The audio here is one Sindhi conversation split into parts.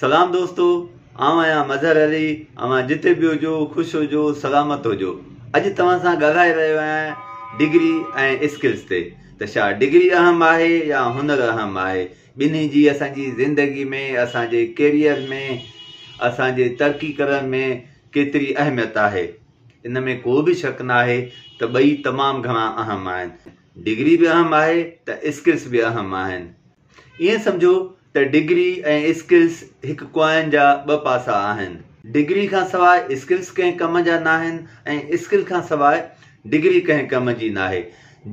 سلام دوستو آئون آهيان مظهر علي اوهان جتي به هجو خوش هجو سلامت هجو اڄ توهان سان ڳالهائي رهيو آهيان ڊگري ۽ اسڪلز تي ته شا ڊگري اهم آهي يا هنر اهم آهي ٻنهي جي اسان جي زندگي ۾ اسان جي ڪيريئر ۾ اسان جي ترقي ڪرڻ ۾ ڪيتري اهميت آهي ان ۾ ڪو به شڪ ناهي ته ٻئي تمام گهڻا اهم آهن ڊگري به اهم آهي ته اسڪلز به اهم آهن ائين سمجهو ته ڊگري ۽ اسڪلس هڪ ڪوائن جا ٻه پاسا آهن. ڊگري کان سواء اسڪلس ڪنهن ڪم جا ناهن ۽ اسڪل کان سواء ڊگري ڪنهن ڪم جي ناهي.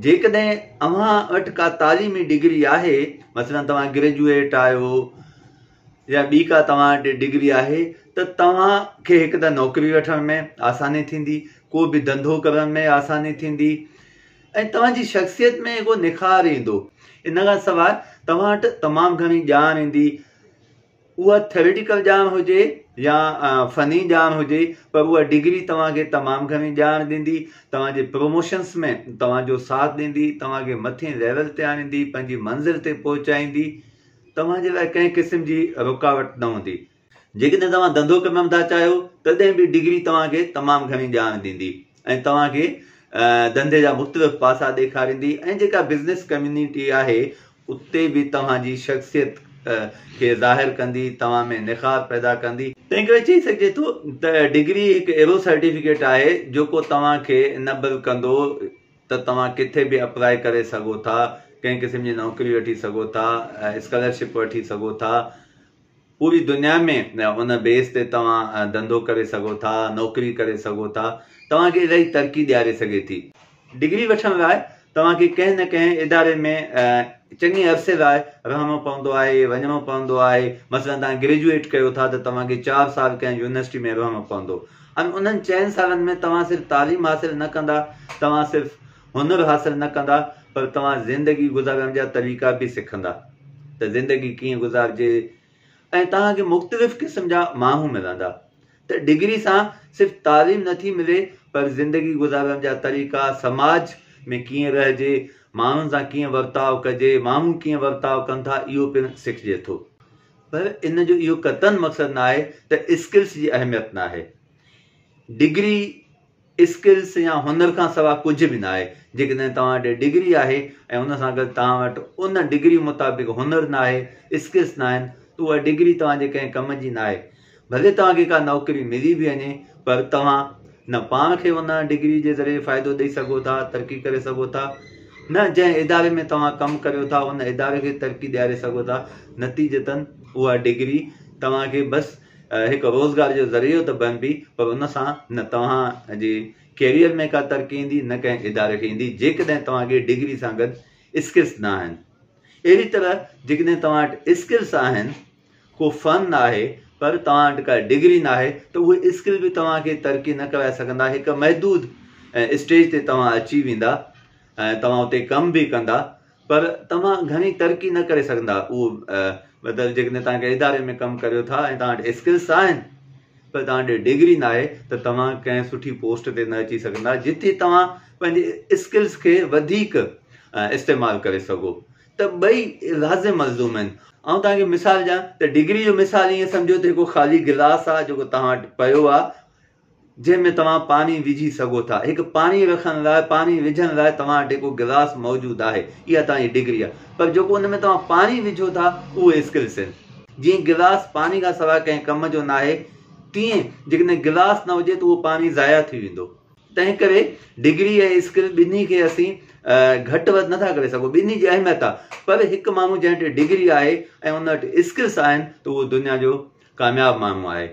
جيڪڏهن اوهان وٽ ڪا تعليمي ڊگري آهي، مثلاً توهان گريجوئيٽ آهيو يا ٻي ڪا توهان وٽ ڊگري آهي ته توهان کي هڪ ته نوڪري وٺڻ ۾ آساني ٿيندي، ڪو به ڌنڌو ڪرڻ ۾ آساني ٿيندي، ۽ توهان جي شخصيت ۾ اهو نکار ايندو. ان کان سواء توهان وٽ تمام گهڻي ڄاڻ ايندي، اها ٿيوريٽيڪل ڄاڻ هجي يا فني ڄاڻ هجي پر اها ڊگري توهان کي تمام گهڻي ڄاڻ ڏيندي، توهان جي پروموشنس ۾ توهان جو ساٿ ڏيندي، توهان کي مٿين ليول تي آڻيندي، پنهنجي منزل تي پهچائيندي، توهان جي لاء ڪنهن قسم جي رڪاوٽ نه هوندي. جيڪڏهن توهان ڌنڌو ڪرڻ نٿا چاهيو تڏهن به ڊگري توهان کي تمام گهڻي ڄاڻ ڏيندي ۽ توهان کي ڌنڌي جا مختلف پاسا ڏيکاريندي ۽ جيڪا بزنس ڪميونٽي آهي اتي به توهان جي شخصيت کي ظاهر ڪندي توهان ۾ نخار پيدا ڪندي. تنهن ڪري چئي سگهجي ٿو ته ڊگري هڪ اهڙو سرٽيفڪيٽ آهي جيڪو توهان کي انيبل ڪندو ته توهان ڪٿي به اپلائي ڪري سگهو ٿا ڪنهن قسم جي نوڪري وٺي سگهو ٿا اسڪالرشپ وٺي سگهو ٿا پوري دنيا ۾ ان بيس تي توهان ڌنڌو ڪري سگهو ٿا، نوڪري ڪري سگهو ٿا، توهان کي الائي ترقي ڏياري سگهي ٿي. ڊگري وٺڻ لاء توهان کي ڪنهن نه ڪنهن اداري ۾ چڱي عرصي لاء رهڻو پوندو آهي، وڃڻو پوندو آهي، مثلا توهان گريجوئيٽ ڪيو ٿا ته توهان کي چار سال ڪنهن يونيورسٽي ۾ رهڻو پوندو ۽ انهن چئن سالن ۾ توهان صرف تعليم حاصل نه ڪندا، توهان صرف هنر حاصل نه ڪندا پر توهان زندگي گذارڻ جا طريقا به سکندا ته زندگي ڪيئن گذارجي ۽ توهان کي مختلف قسم جا ماڻهو ملندا ته ڊگري سان صرف تعليم نه ٿي ملي پر زندگي گذارڻ جا طريقا سماج ۾ ڪيئن رهجي ماڻهن سان ڪيئن ورتاء ڪجي ماڻهو ڪيئن ورتاء ڪن ٿا اهو پڻ سکجي ٿو پر ان جو اهو قطعن مقصد ناهي ته اسڪلس جي اهميت ناهي ڊگري اسڪلس يا هنر کان سواء ڪجهه به ناهي، جيڪڏهن توهان وٽ ڊگري آهي ۽ ان سان گڏ توهان وٽ ان ڊگري مطابق هنر ناهي، اسڪلس ناهن ته اها ڊگري توهان جي ڪنهن ڪم جي ناهي. ڀلي توهان کي ڪا نوڪري ملي به وڃي پر توهان نه پاڻ کي ان ڊگري جي ذريعي فائدو ڏئي سگهو ٿا، ترقي ڪري سگهو ٿا، نه جنهن اداري ۾ توهان ڪم ڪريو ٿا ان اداري کي ترقي ڏياري سگهو ٿا، نتيجتن اها ڊگري توهان کي بس هڪ روزگار جو ذريعو ته بڻبي پر ان سان نه توهان جي ڪيريئر ۾ ڪا ترقي ايندي نه ڪنهن اداري کي ايندي جيڪڏهن توهان کي ڊگري سان گڏ اسڪلس نه آهن اهڙي طرح جيڪڏهن توهان وٽ اسڪلس آهن ڪو فن آهي پر توهان وٽ ڪا ڊگري نه آهي ته اهي اسڪل به توهان کي ترقي نه ڪرائي سگهندا هڪ محدود اسٽيج تي توهان اچي ويندا توهان اتي ڪم به ڪندا پر توهان گهڻي ترقي نه ڪري سگهندا اهو مطلب جيڪڏهن توهان ڪنهن اداري ۾ ڪم ڪريو ٿا ۽ توهان وٽ اسڪلس آهن پر توهان ڏي ڊگري نه آهي ته توهان ڪنهن سٺي پوسٽ تي نه اچي سگهندا جتي توهان پنهنجي اسڪلس کي وڌيڪ استعمال ڪري سگهو ته ٻئي لازم ملزوم آهن آئون توهان کي مثال ڏيان ته ڊگري جو مثال ائين سمجهو ته هڪ خالي گلاس آهي جيڪو توهان وٽ پيو آهي جنهن ۾ توهان پاڻي وجهي سگهو ٿا. هڪ پاڻي رکڻ لاء پاڻي وجهڻ لاء توهان وٽ هڪ گلاس موجود آهي اها توهان جي ڊگري آهي پر جيڪو ان ۾ توهان پاڻي وجهو ٿا اهو اسڪلس آهن. جيئن گلاس پاڻي کان سواء ڪنهن ڪم جو ناهي تيئن جيڪڏهن گلاس نه هجي ته اهو پاڻي ضايع ٿي ويندو. تنهن ڪري ڊگري ۽ اسڪل ٻنهي کي اسين گهٽ وڌ نٿا ڪري سگهون ٻنهي جي اهميت آهي پر هڪ ماڻهو جنهن وٽ ڊگري آهي ۽ ان وٽ اسڪلس آهن ته اهو دنيا جو ڪامياب ماڻهو آهي.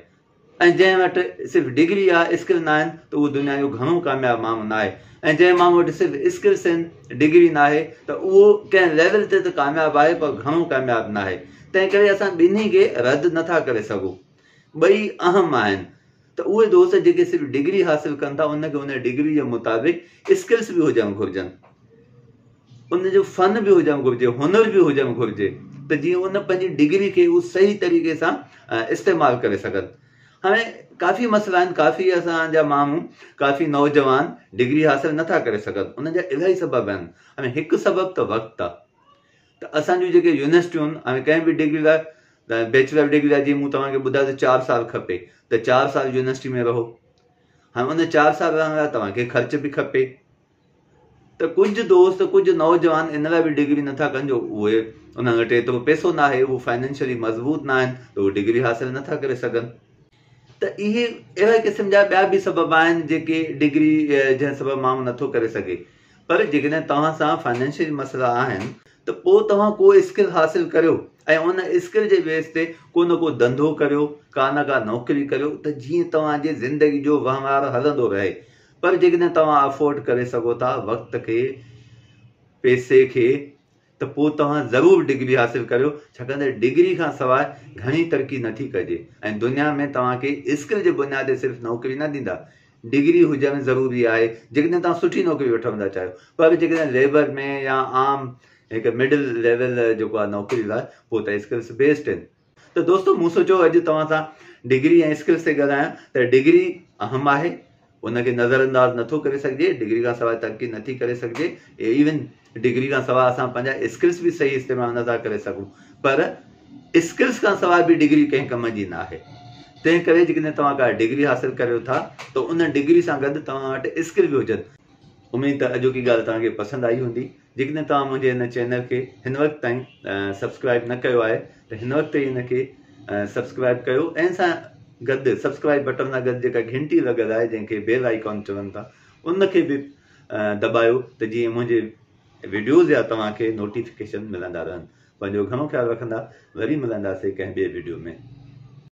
۽ جنهن وٽ صرف ڊگري يا اسڪل ناهن ته اهو دنيا جو گهڻو ڪامياب ماڻهو ناهي ۽ جنهن ماڻهو وٽ صرف اسڪلس آهن ڊگري ناهي ته اهو ڪنهن ليول تي ته ڪامياب آهي پر گهڻو ڪامياب ناهي تنهن ڪري اسان ٻنهي کي رد نٿا ڪري سگهو ٻئي اهم آهن ته اهي دوست جيڪي صرف ڊگري حاصل ڪن ٿا ان کي ان ڊگري جي مطابق اسڪلس به هجڻ گهرجن ان جو فن به هجڻ گهرجي، هنر به هجڻ گهرجي ته جيئن ان پنهنجي ڊگري کي هو صحيح طريقي سان استعمال ڪري سگهن. هاڻي ڪافي مسئلا آهن، ڪافي اسان جا ماڻهو، ڪافي نوجوان ڊگري حاصل نه ٿا ڪري سگهن، ان جا الاهي سبب آهن. هاڻي هڪ سبب ته وقت آهي ته اسان جون جيڪي يونيورسٽيون، هاڻي ڪنهن به ڊگري لاء بيچلر ڊگري لاء جيئن مون توهان کي ٻڌايو ته چار سال کپي ته چار سال يونيورسٽي ۾ رهو. هاڻي ان چار سال رهڻ لاء توهان کي خرچ به کپي. ته ڪجهه دوست ڪجهه نوجوان ان لاء به ڊگري نٿا ڪن جو اهي انهن وٽ ايترو پئسو ناهي هو فائنينشلي مضبوط ناهن ته اهي ڊگري حاصل نٿا ڪري سگهن ته اهي اهڙي قسم جا ٻيا به سبب آهن جيڪي ڊگري جنهن سبب ماڻهو نٿو ڪري سگهي پر جيڪڏهن توهان سان فائنينشلي مسئلا آهن ته پوء توهان ڪو اسڪل حاصل ڪريو ۽ ان اسڪل جي بيس تي ڪو نه ڪو ڌنڌو ڪريو ڪا نه ڪا نوڪري ڪريو ته جيئن توهان جي زندگي جو وهنوار هلندو رهي پر جيڪڏهن توهان افورڊ ڪري سگهو ٿا وقت کي پئسي کي ته پوء توهان ضرور ڊگري حاصل ڪريو ڇاڪاڻ ته ڊگري کان سواء گهڻي ترقي نٿي ڪجي ۽ دنيا ۾ توهان کي اسڪل جي بنياد تي صرف نوڪري نه ڏيندا ڊگري هجڻ ضروري آهي جيڪڏهن توهان سٺي نوڪري وٺڻ ٿا چاهيو پر جيڪڏهن ليبر ۾ يا عام هڪ مڊل ليول جيڪو آهي نوڪري لاء پوء ته اسڪلس بيسٽ آهن ته دوستو مون سوچيو اڄ توهان سان ڊگري ۽ اسڪلس تي ڳالهايان ته ڊگري اهم آهي ان کي نظر انداز نٿو ڪري سگهجي ڊگري کان سواء ترقي نٿي ڪري سگهجي ايون ڊگري کان سواء اسان پنهنجا اسڪلس به صحيح استعمال نٿا ڪري سگهون پر اسڪلس کان سواء به ڊگري ڪنهن ڪم جي نه آهي تنهن ڪري جيڪڏهن توهان ڪا ڊگري حاصل ڪريو ٿا ته ان ڊگري سان گڏ توهان وٽ اسڪل به هجن اميد ته اڄوڪي ڳالهه توهان کي پسند آئي هوندي جيڪڏهن توهان منهنجي هن چينل کي هن وقت تائين سبسڪرائب نه ڪيو آهي ته هن وقت ئي ان کي سبسڪرائب ڪيو ۽ سان گڏ سبسڪرائب بٽن سان گڏ جيڪا گهنٽي لڳل آهي جنهن کي بيل آئيڪان چون ٿا ان کي به دٻايو ته جيئن منهنجي ويڊيوز يا توهان کي نوٽيفڪيشن ملندا رهن پنهنجو گهڻو خيال رکندا وري ملنداسي ڪنهن ٻي ويڊيو ۾